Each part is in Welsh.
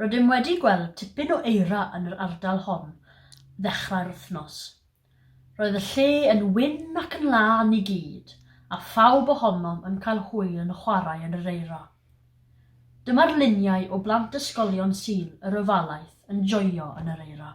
Rydym wedi gweld tipyn o eira yn yr ardal hon ddechrau'r wythnos. Roedd y lle yn wyn ac yn lân i gyd, a phawb ohonom yn cael hwyl yn chwarae yn yr eira. Dyma'r luniau o blant ysgolion Sul yr Ofalaeth yn joio yn yr eira.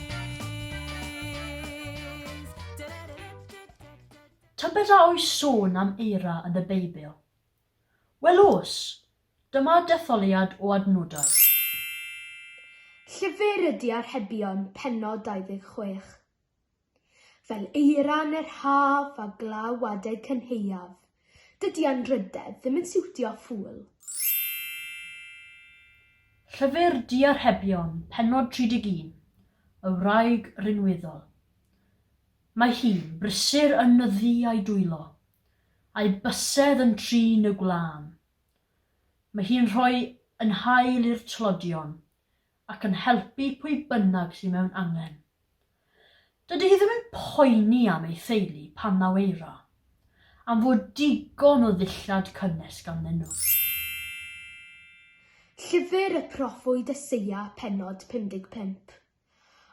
Tybed a oes sôn am eira yn y Beibl? Wel oes! Dyma detholiad o adnodau. Llyfr ydy Arhebion, pennod 26. Fel eira yn yr haf a glaw adeg cynhaeaf. Dydy anrhydedd ddim yn siwtio ffŵl. Llyfr Du a Rhebion, pennod 31, y wraig rinweddol. Mae hi'n brysur yn nyddu a'i dwylo, a'i bysedd yn trin y gwlân. Mae hi'n rhoi yn hael i'r tlodion, ac yn helpu pwy bynnag sydd mewn angen. Dydy hi ddim yn poeni am ei theulu pan naw eira, am fod digon o ddillad cynnes ganddyn nhw. Llyfr y Proffwyd Eseia pennod 55.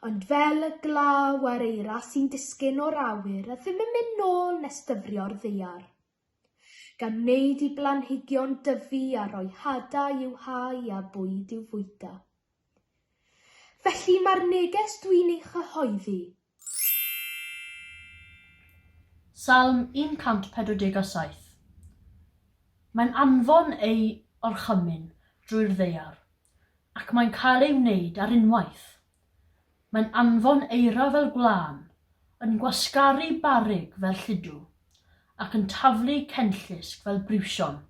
Ond fel y glaw a'r eira sy'n disgyn o'r awyr a ddim yn mynd nôl nes dyfrio'r ddaear. gan wneud i blanhigion dyfu a rhoi hadau i'w hau a bwyd i'w fwyta. Felly mae'r neges dwi'n ei chyhoeddi. Salm 147. Mae'n anfon ei orchymyn drwy'r ddaear, ac mae'n cael ei wneud ar unwaith. Mae'n anfon eira fel gwlân, yn gwasgaru barrug fel lludw, ac yn taflu cenllysg fel briwsion.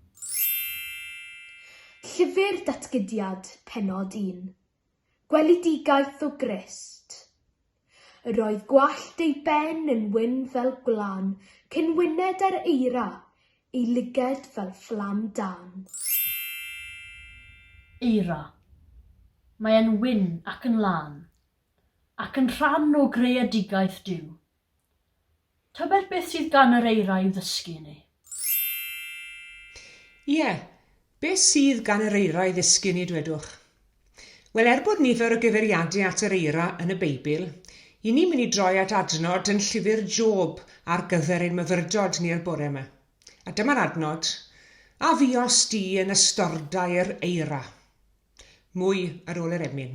Llyfr Datgydiad, Pennod un. Gweledigaeth o Grist. Yr oedd gwallt ei ben yn wyn fel gwlân, cyn wyned ar eira, Y lyged fel fflam dân. Eira. Mae e'n wyn ac yn lân. Ac yn rhan o greadigaeth Duw. Tybed beth sydd gan yr eira i'w ddysgu i ni? Ie, Be sydd gan yr eira i ddysgu ni, dwedwch? Wel, er bod nifer o gyfeiriadau at yr eira yn y Beibl, i ni mynd i droi at adnod yn llyfr Job ar gyfer ein myfyrdod ni yr bore yma. A dyma'r adnod, A fuos di yn ystordai'r eira. Mwy ar ôl yr emyn.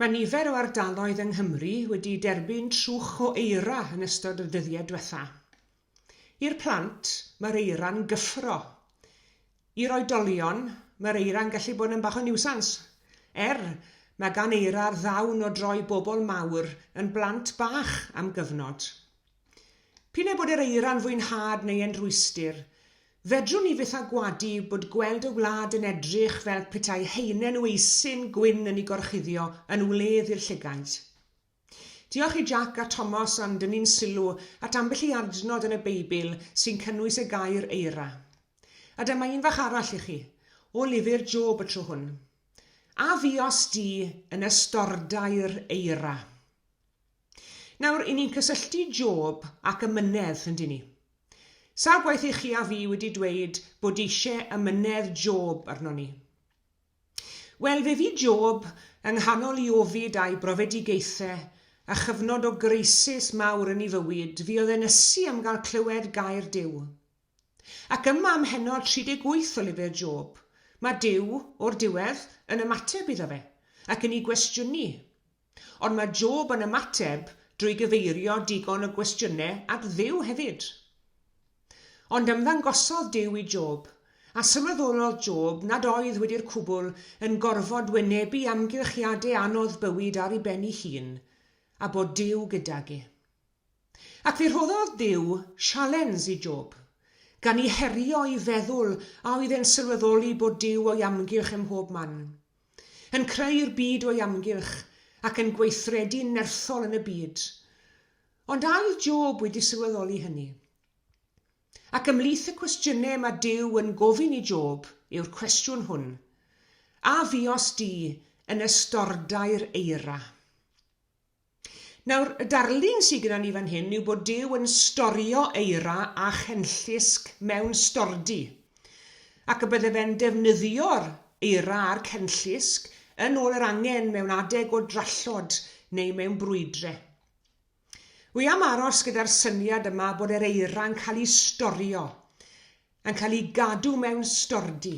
Mae nifer o ardaloedd yng Nghymru wedi derbyn trwch o eira yn ystod y dyddiau diwetha'. I'r plant, mae'r eira'n gyffro. I'r oedolion, mae'r eira'n gallu bod yn bach o niwsans. Er, mae gan eira'r ddawn o droi bobl mawr yn blant bach am gyfnod. P'un ai bod yr eira'n fwynhad neu e'n rwystr, fedrwn ni fyth â gwadu bod gweld y wlad yn edrych fel petai haenen weisin gwyn yn ei gorchuddio yn wledd i'r llygaid. Diolch i Jac a Tomos am dynnu'n sylw at ambell i adnod yn y Beibl sy'n cynnwys y gair eira. A dyma un fach arall i chi, o lyfr Job y tro hwn. A fuos di yn ystordai'r eira? Nawr, i ni'n cysylltu Job ac ymynedd, yndyn ni? Sawl gwaith i chi a fi wedi dweud bod eisiau ymynedd Job arnon ni? Wel, fe fu Job yng nghanol i ofid a'i brofedigaethau, a chyfnod o greisis mawr yn ei fywyd, fuodd e'n ysu am gael clywed gair Duw. Ac yma ym mhennod 38 o lyfr Job, mae Duw, o'r diwedd, yn ymateb iddo fe, ac yn ei gwestiynu. Ond mae Job yn ymateb drwy gyfeirio digon o gwestiynau at Dduw hefyd. Ond ymddangosodd Duw i Job, a sylweddolodd Job nad oedd wedi'r cwbl yn gorfod wynebu amgylchiadau anodd bywyd ar ei ben ei hun, a bod Duw gydag e. Ac fe rhoddodd Duw sialens i Job, gan i herio i feddwl a oedd e'n sylweddoli bod Duw o'i amgylch ym mhob man. yn creu'r byd o'i amgylch ac yn gweithredu'n nerthol yn y byd. Ond a oedd Job wedi sylweddoli hynny? Ac ymhlith y cwestiynau mae Duw yn gofyn i Job yw'r cwestiwn hwn, A fuos di yn ystordai'r eira? Nawr, y darlun sy gyda ni fan hyn yw bod Duw yn storio eira a chenllysg mewn stordy, ac y bydde fe'n defnyddio'r eira a'r chenllysg yn ôl yr angen mewn adeg o drallod neu mewn brwydre. Wi am aros gyda'r syniad yma bod yr eira'n cael ei storio, yn cael ei gadw mewn stordy.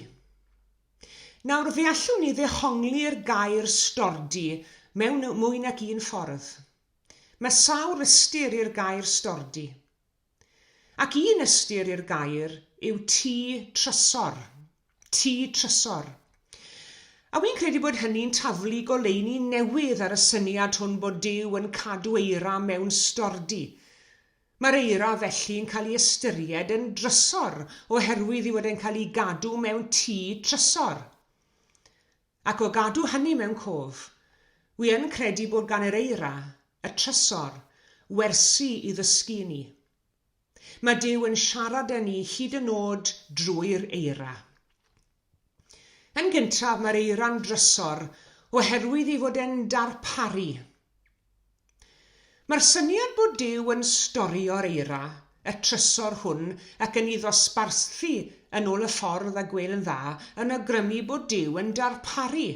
Nawr, fe allwn ni ddehongli'r gair stordy mewn mwy nag un ffordd. Mae sawl ystyr i'r gair stordy. Ac un ystyr i'r gair yw tŷ trysor. Tŷ trysor. A wi'n credu bod hynny'n taflu goleuni newydd ar y syniad hwn bod Duw yn cadw eira mewn stordy. Mae'r eira felly'n cael ei ystyried yn drysor oherwydd ei fod e'n cael ei gadw mewn tŷ trysor. Ac o gadw hynny mewn cof, wi yn credu bod gan yr eira, y trysor, wersi i ddysgu i ni. Mae Duw yn siarad â ni hyd yn nod drwy'r eira. Yn gyntaf, mae'r eira'n drysor oherwydd ei fod e'n darparu. Mae'r syniad bod Duw yn storio'r eira, y trysor hwn, ac yn ei ddosbarthu yn ôl y ffordd a gwel'n dda, yn awgrymu bod Duw yn darparu.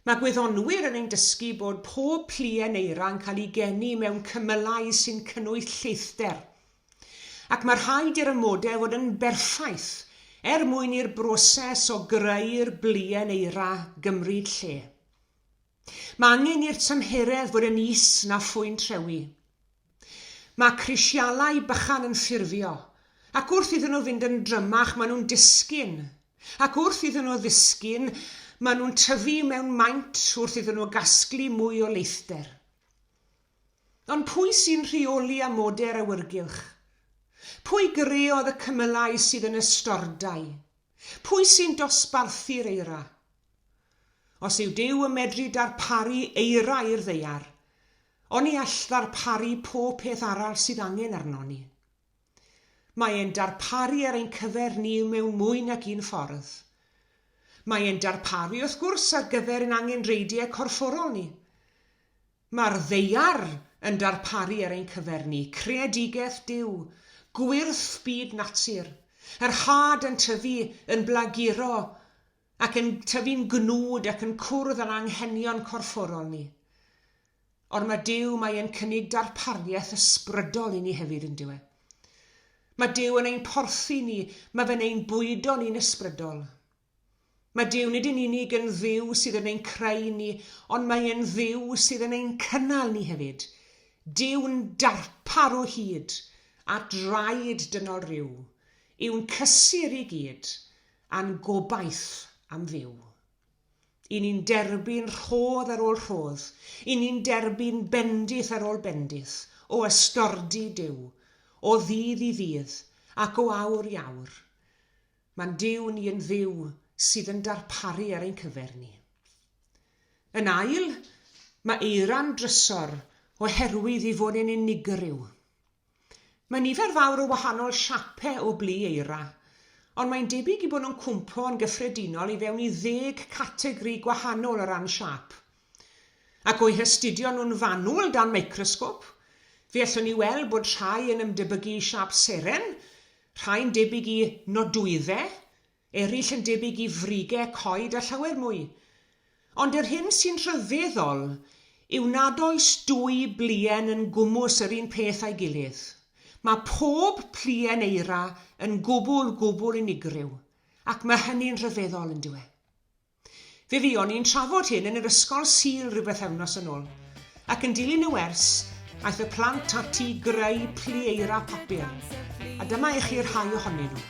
Mae gwyddonwyr yn ein dysgu bod pob pluen eira yn cael ei geni mewn cymylau sy'n cynnwys lleithder, ac mae rhaid i'r amodau fod yn berffaith er mwyn i'r broses o greu'r bluen eira gymryd lle. Mae angen i'r tymheredd fod yn is na phwynt rhewi. Mae crisialau bychan yn ffurfio, ac wrth iddyn nhw fynd yn drymach maen nhw'n disgyn, ac wrth iddyn nhw ddisgyn maen nhw'n tyfu mewn maint wrth iddyn nhw gasglu mwy o leithder. Ond pwy sy'n rheoli amodau'r awyrgylch? Pwy greodd y cymylau sydd yn y stordai? Pwy sy'n dosbarthu'r eira? Os yw Duw yn medru darparu eira i'r ddaear, Ond ni all ddarparu pob peth arall sydd angen arnon ni. Mae e'n darparu ar ein cyfer ni mewn mwy nag un ffordd. Mae e'n darparu, wrth gwrs, ar gyfer ein angenrheidiau corfforol ni. Mae'r Ddaear yn darparu ar ein cyfer ni, creadigaeth Duw, gwyrth byd natur, yr had yn tyfu, yn blaguro, ac yn tyfu'n gnwd ac yn cwrdd â'n anghenion corfforol ni. Ond mae Duw, mae e'n cynnig darpariaeth ysbrydol i ni hefyd, yn dywe. Mae Duw yn ein porthi ni, mae fe'n ein bwydo ni'n ysbrydol. Mae Duw nid yn unig yn ddiw sydd yn ein creu ni, ond mae e'n ddiw sydd yn ein cynnal ni hefyd. Duw'n darpar o hyd a draed dynol ryw, yw'n cysur i gyd, A'n gobaith am fyw. I ni'n derbyn rhodd ar ôl rhodd, i ni'n derbyn bendith ar ôl bendith o ystordy Duw, o ddydd i ddydd ac o awr i awr. Mae'n Duw ni yn fyw sydd yn darparu ar ein cyfer ni. Yn ail, mae eira'n drysor oherwydd ei fod e'n unigryw. Mae nifer fawr o wahanol siape o blu eira, ond mae'n debyg i bod nhw'n cwmpo yn gyffredinol i fewn i ddeg categri gwahanol o ran siâp. Ac o'u hastudio nhw'n fanwl dan microsgop, fe allwn ni weld bod rhai yn ymdebygu i siâp seren, rhai'n debyg i nodwyddau, Eraill yn debyg i frige coed a llawer mwy. Ond yr hyn sy'n rhyfeddol yw nad oes dwy bluen yn gwmws yr un peth â'i gilydd. Mae pob pluen eira yn gwbl, gwbl unigryw, ac mae hynny'n rhyfeddol, yn dyw e? Fe fuon ni'n trafod hyn yn yr ysgol Sul ryw bethefnos yn ôl, ac yn dilyn y wers, aeth y plant ati i greu plu eira papur, a dyma i chi rhai ohonyn nhw.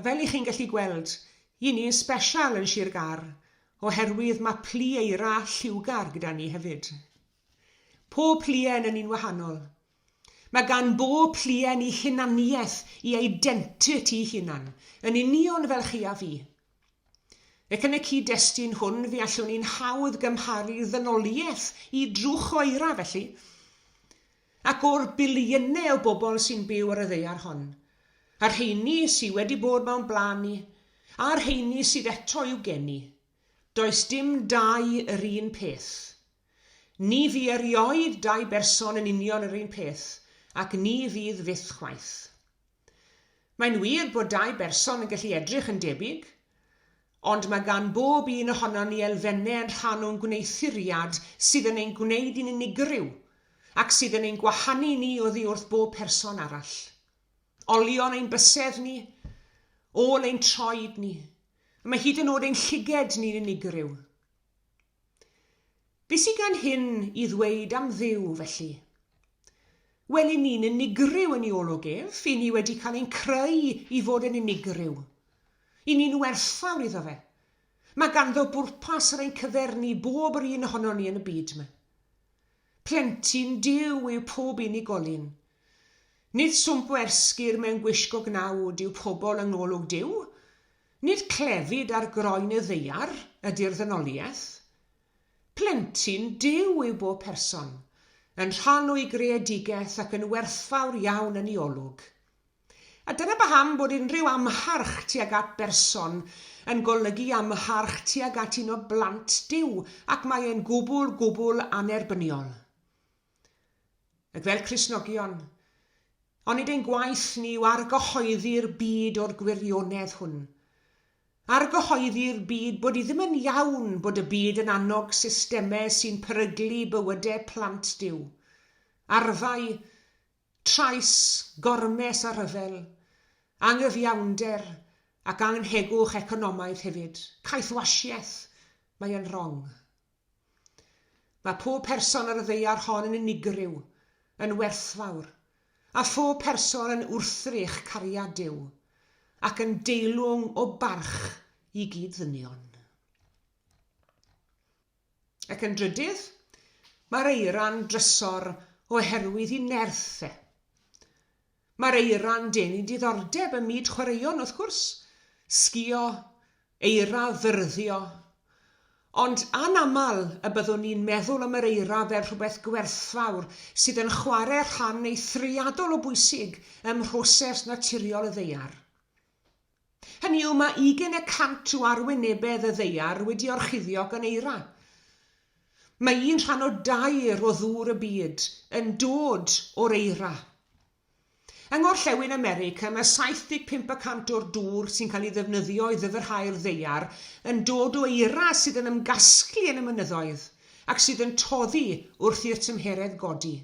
A fel i chi'n gallu gweld, i ni yn special yn Sir Gar, oherwydd mae plu eira lliwgar gyda ni hefyd. Pob pluen yn un wahanol. Mae gan bob pluen i hunaniaeth, i identity hunan, yn union fel chi a fi. Ac yn y cyd-destun hwn fe allwn ni'n hawdd gymharu ddynoliaeth i drwch oera felly. Ac o'r biliynau o bobl sy'n byw ar y ddaear hon, a'r rheini sy' wedi bod mewn blaen ni, a'r rheini sydd eto i'w geni, does dim dau yr un peth. Ni fu erioed dau berson yn union yr un peth, ac ni fydd fyth chwaith. Mae'n wir bod dau berson yn gallu edrych yn debyg, ond mae gan bob un ohonon ni elfennau yn rhan o'n gwneuthuriad sydd yn ein gwneud i'n unigryw ac sydd yn ein gwahanu ni oddi wrth bob person arall. Olion ein bysedd ni, ôl ein troed ni, a mae hyd yn oed ein llygaid ni'n unigryw. Be sy gan hyn i ddweud am Dduw, felly? Wel, i ni'n unigryw yn iolwg ef, i ni wedi cael ein creu i fod yn unigryw. I ni'n werthfawr iddo fe. Mae ganddo bwrpas yr ein cyfernu bob yr un ohonon ni yn y byd yma. Plentyn Duw yw pob unigolyn. Nid swmp o ersgir mewn gwisgo gnawd yw pobl yng ngolwg Duw. Nid clefyd ar groen y ddaear ydy'r ddynoliaeth. Plentyn Duw yw bob person, yn rhan o'i greadigaeth ac yn werthfawr iawn yn ei olwg. A dyna paham bod unrhyw amharch tuag at berson yn golygu amharch tuag at un o blant Duw, ac mae e'n gwbl, gwbl annerbyniol. Ac fel Cristnogion, onid ein gwaith ni yw argyhoeddi'r byd o'r gwirionedd hwn? Argyhoeddi'r byd bod i ddim yn iawn bod y byd yn annog systemau sy'n peryglu bywydau plant Duw. Arfau, Trais, gormes a rhyfel, anghyfiawnder ac anghegwch economaidd hefyd, caethwasiaeth, mae e'n rong. Mae pob person ar y ddaear hon yn unigryw, yn werthfawr, a phob person yn wrthrych cariad Duw, ac yn deilwng o barch i gyd-ddynion. Ac yn drydydd, mae'r eira'n drysor oherwydd i nerth e. Mae'r eira'n denu diddordeb ym myd chwaraeon, wrth gwrs, sgïo, eira, fyrddio, ond anaml y byddwn ni'n meddwl am yr eira fel rhywbeth gwerthfawr sydd yn chwarae rhan eithriadol o bwysig ym mhroses naturiol y ddaear. Hynny yw, mae ugain y cant o arwynebedd y ddaear wedi orchuddio gan eira. Mae un rhan o dair o ddŵr y byd yn dod o'r eira. Yng Ngorllewin America, mae 75 y cant o'r dŵr sy'n cael ei ddefnyddio i ddyfrhau'r ddaear yn dod o eira sydd yn ymgasglu yn y mynyddoedd ac sydd yn toddi wrth i'r tymheredd godi.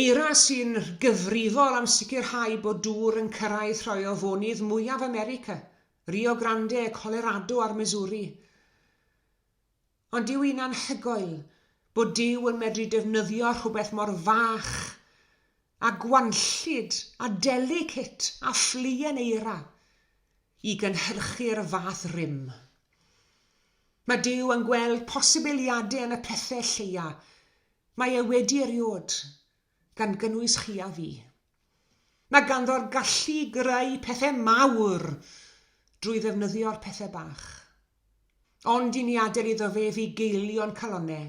Eira sy'n gyfrifol am sicrhau bod dŵr yn cyrraedd rhai o fonydd mwyaf America, Rio Grande, Colorado a'r Missouri. Ond dyw hi'n anhygoel bod Duw yn medru defnyddio rhywbeth mor fach a gwanllyd a delicate a ffluen eira i gynhyrchu'r fath rym. Mae Duw yn gweld posibiliadau yn y pethau lleia Mae e wedi eriod, gan gynnwys chi a fi. Mae ganddo'r gallu i greu pethau mawr drwy ddefnyddio'r pethau bach. Ond i ni adael iddo fe fugeilio'n calonnau,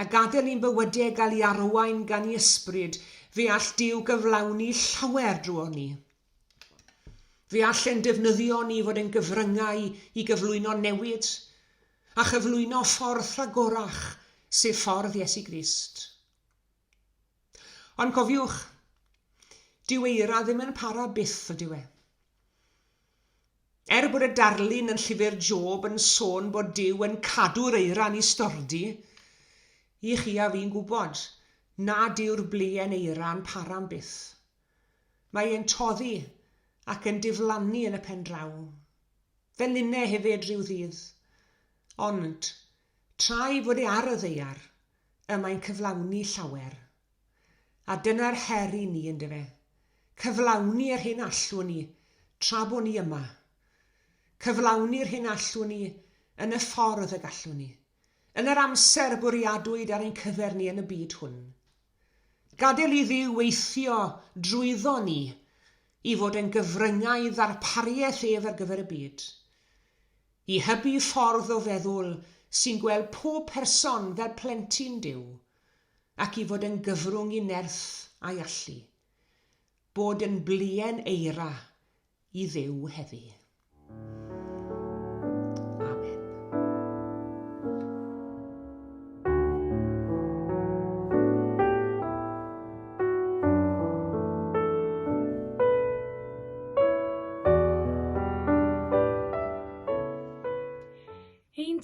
a gadael i'n bywydau gael ei arwain gan ei ysbryd, fe all Duw gyflawni llawer drwonon ni. Fe all e'n defnyddio ni i fod yn gyfryngau i gyflwyno newid, a chyflwyno ffordd rhagorach, sef ffordd Iesu Grist. Ond cofiwch, dyw eira ddim yn para byth, ydyw e? Er bod y darlun yn llyfr Job yn sôn bod Dyw yn cadw'r eira ni stordi, i chi a fi'n gwybod nad yw'r bleuen eira'n para'n byth. Mae e'n toddi ac yn diflannu yn y pen draw. Fe linne hefyd ryw ddydd. Ond, tra'i fod e ar y ddaear, y mae'n cyflawni llawer. A dyna'r her i ni, yndyfe? Cyflawni yr hyn allwn ni tra bo' ni yma. Cyflawni'r hyn allwn ni yn y ffordd y gallwn ni. yn yr amser bwriadwyd ar ein cyfer ni yn y byd hwn. Gadael i Dduw weithio drwyddo ni i fod yn gyfryngau i ddarpariaeth ef ar gyfer y byd. I hybu ffordd o feddwl sy'n gweld pob person fel plentyn Duw, ac i fod yn gyfrwng i nerth a'i allu. Bod yn bluen eira i Dduw heddi.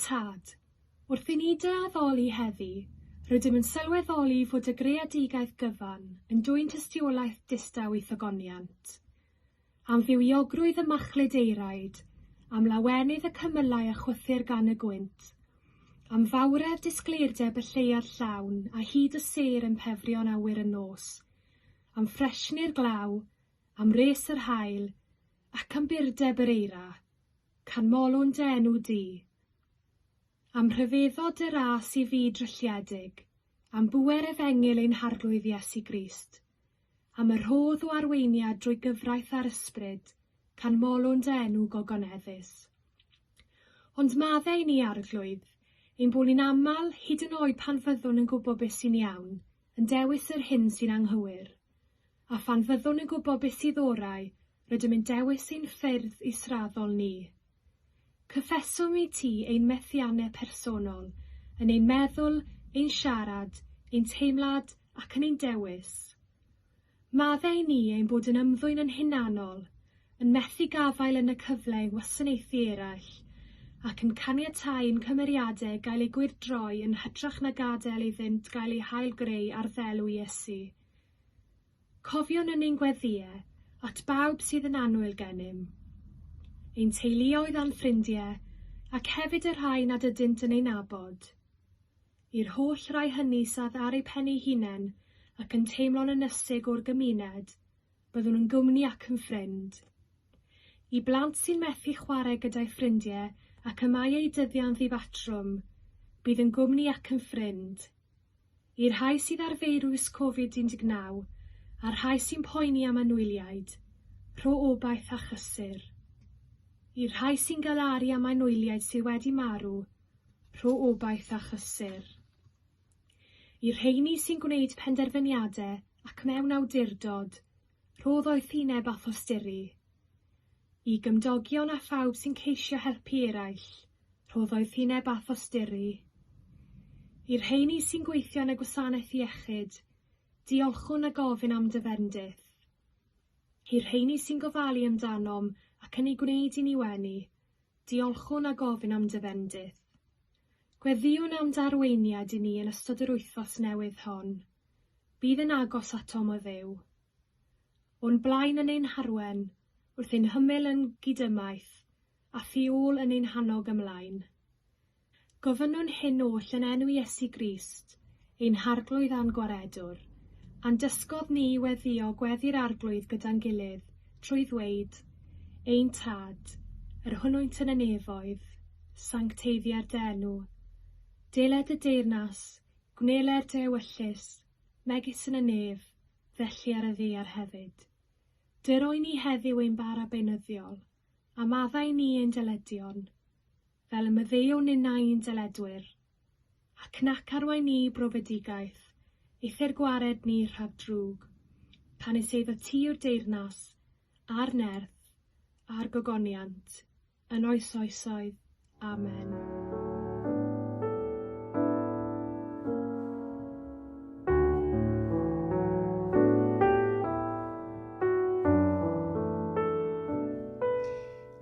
tad. Wrth i ni dy addoli heddi, rydym yn sylweddoli fod y greadigaeth gyfan yn dwyn tystiolaeth distaw i thogoniant. Am fywiogrwydd y machlud eiraid, am lawenydd y cymylau a chwythir gan y gwynt, am fawredd disgleirdeb y lleuad llawn a hud y sêr yn pefrio'n awyr yn nos, am ffresgni'r glaw, am wres yr haul, ac am burdeb yr eira, canmolwn dy enw di. Am rhyfeddod dy ras i fyd drylliedig, am bŵer efengyl ein Harglwydd Iesu Grist, Am y rhodd o arweiniad drwy gyfraith a'r ysbryd, canmolwn dy enw gogoneddus. Ond madde i ni, Arglwydd, ein bod ni'n aml, hyd yn oed pan fyddwn yn gwybod beth sy'n iawn, yn dewis yr hyn sy'n anghywir. A phan fyddwn yn gwybod beth sydd orau, Rydym yn dewis ein ffyrdd israddol ni. Cyffeswm i ti ein methiannau personol, yn ein meddwl, ein siarad, ein teimlad ac yn ein dewis. Maddau ni ein bod yn ymddwyn yn hunanol, yn methu gafael yn y cyfle i wasanaethu eraill, ac yn caniatáu i'n cymeriadau gael eu gwyrdroi yn hytrach na gadael iddynt gael eu hail-greu ar ddelw Iesu. Cofiwn yn ein gweddïe at bawb sydd yn annwyl gennym, ein teuluoedd a'n ffrindie, ac hefyd y rhai nad ydynt yn ei nabod. I'r holl rai hynny sydd ar eu pen eu hunain ac yn teimlo'n ynysig o'r gymuned, byddwn yn gwmni ac yn ffrind. I blant sy'n methu chwarae gyda'u ffrindie ac y mae eu dyddiau'n ddibatrwm, bydd yn gwmni ac yn ffrind. i'r rhai sydd â'r feirws Covid 19 a'r rhai sy'n poeni am anwyliaid, rho obaith a chlysur. I'r rhai sy'n galaru am anwyliaid sydd wedi marw, rho obaith a chlysur. I'r rheini sy'n gwneud penderfyniadau ac mewn awdurdod, Rhodd o'i thineb a thosturi. I gymdogion a phawb sy'n ceisio helpu eraill, rhodd o'i thineb a thosturi. I'r rheini sy'n gweithio yn y gwasanaeth iechyd, diolchwn a gofyn am dy fendith. I'r rheini sy'n gofalu amdanom ac yn ei gwneud i ni wenu, diolchwn a gofyn am dy fendith. Gweddïwn am dy arweiniad i ni yn ystod yr wythnos newydd hon. Bydd yn agos atom o Dduw. O'n blaen yn ein harwen, wrth ein hymyl yn gydymaith, a thu ôl yn ein hannog ymlaen. Gofynnwn hyn oll yn enw Iesu Grist, ein Harglwydd a'n Gwaredwr, a'n dysgodd ni i weddïo gweddi'r Arglwydd gyda'n gilydd, trwy ddweud, Ein Tad, yr hwnwynt yn y nefoedd, sancteiddiar dy enw. Dele dy deyrnas, Gwneler dy ewyllys, megis yn y nef, felly ar y ddaear hefyd. Dy roi ni heddiw ein bara beunyddiol, a maddau ni ein deledion, fel y maddeuo ninnau i'n deledwyr. Ac nac arwai ni i brofedigaeth, eithr gwared ni rhag drwg, pan is eiddo ti yw'r deyrnas, a'r nerth, a'r gogoniant, yn oes oesoedd. Amen.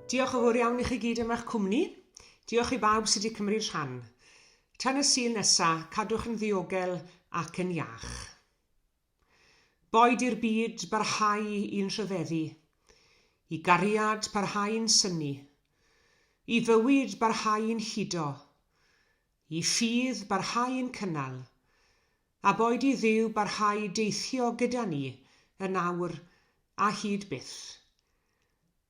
Diolch o fawr iawn i chi gyd am eich cwmni. Diolch i bawb sydd wedi cymryd rhan. Tan y Sul nesa, cadwch yn ddiogel ac yn iach. Boed i'r byd barhau i'n rhyfeddu, i gariad parhau'n synnu, i fywyd barhau'n hudo, i ffydd barhau'n cynnal, a boed i Dduw barhau deithio gyda ni yn awr a hyd byth.